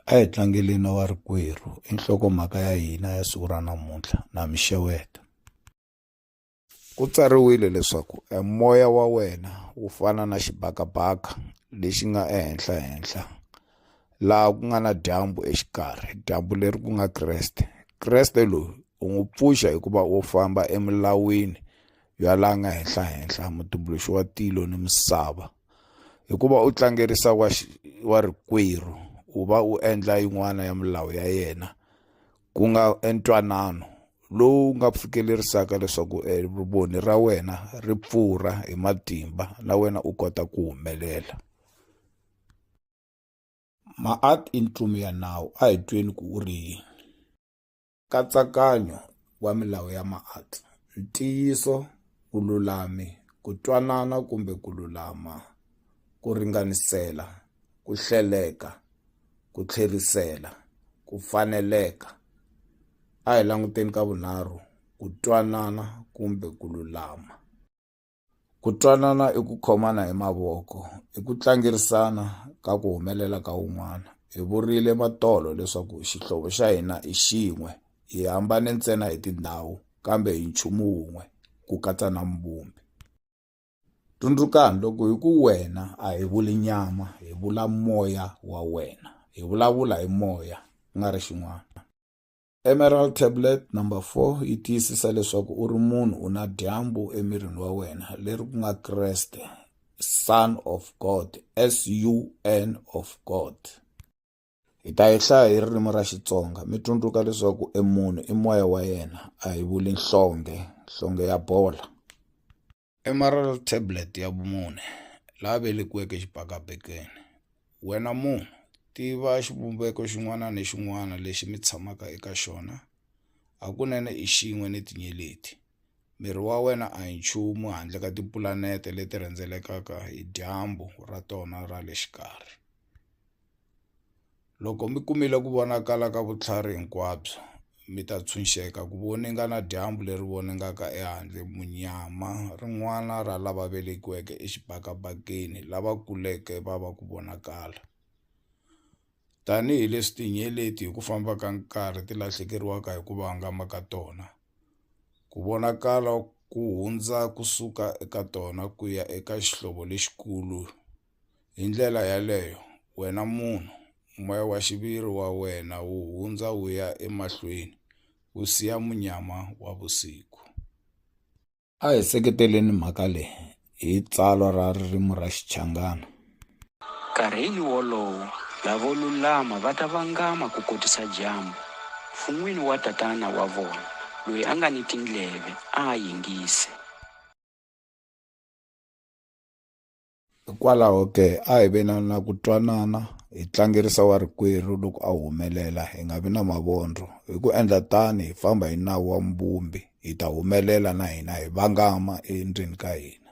a hi tlangeleni na varikwerhu i nhlokomhaka ya hina ya siku ra namuntlha na mi xeweta ku tsariwile leswaku e moya wa wena wu fana na xibakabaka lexi nga ehenhla henhla laha ku nga na dyambu exikarhi dyambu leri ku nga kreste kreste loyi u n'wi pfuxa hikuva u famba emilawini ya laha nga henhla henhla mutumbuluxi wa tilo ni misava hikuva u tlangerisa wa wa rikwerhu u va u endla yin'wana ya milawu ya yena ku nga entwanano lowu nga fikelerisaka leswaku eh, voni ra wena ri pfurha hi matimba na wena u kota ku humelela maat i ntlumi ya nawu a hi tweni ku u ri yini Nkatsakanyo wa milawu ya maati, ntiyiso, vululami, ku twanana kumbe ku lulama, ku ringanisela, ku hleleka, ku tlherisela, ku faneleka. A hi languteni ka vunharhu, ku twanana kumbe ku lulama. Ku twanana i ku khomana hi mavoko, i ku tlangerisana ka ku humelela ka un'wana. Hi vurile matolo leswaku xihlovo xa hina i xin'we, hi hambane ntsena hi tindhawu kambe hi nchumu wun'we, ku katsa na Muvumbi. Tsundzukani, loko hi ku wena a hi vuli nyama, hi vula moya wa wena. Hi vulavula hi moya, ku nga ri xin'wana. Emerald tablet number 4 yi tiyisisa leswaku u ri munhu u na dyambu emirini wa wena leri ku nga Kreste son of God S U N of God hi ta yi hlaya hi ririmi ra Xitsonga mi tsundzuka leswaku e munhu i moya wa yena a hi vuli nhlonge nhlonge ya bola Emerald Tablet ya vumune, la velekiweke xibakabekeni. Wena munhu, tiva xivumbeko xin'wana ni xin'wana lexi mi tshamaka eka xona. Hakunene i xin'we ni tinyeleti. Miri wa wena a hi nchumu handle ka tipulanete leti rhendzelekaka hi dyambu ra tona ra le xikarhi. Loko mi kumile ku vonakala ka vutlhari hinkwabyo, mi ta tshunxeka ku voninga na dyambu leri voningaka ehandle, munyama, rin'wana ra lava velekiweke exibakabakeni lava kuleke va va ku vonakala. Tanihi leswi tinyeleti hi ku famba ka nkarhi ti lahlekeriwaka hi ku vangama ka tona, ku vonakala ku hundza ku suka eka tona ku ya eka xihlovo lexikulu, Hi ndlela yaleyo, wena munhu, moya wa xiviri wa wena wu hundza wu ya emahlweni wu siya munyama wa vusiku. A hi seketeleni mhaka leyi hi tsalwa ra ririmi ra Xichangana. Nkarhini wolowo, lavo lulama va ta vangama ku kotisa dyambu. Fun'wini wa Tatana wa vona, loyi a nga ni tindleve, a a yingise. Hikwalaho ke, a hi ve na na ku twanana, hi tlangerisa wa rikwerhu loko a humelela, hi nga vi na mavondlo. Hi ku endla tani, hi famba hi nawu wa Muvumbi, hi ta humelela na hina, hi vangama endlwini ka hina.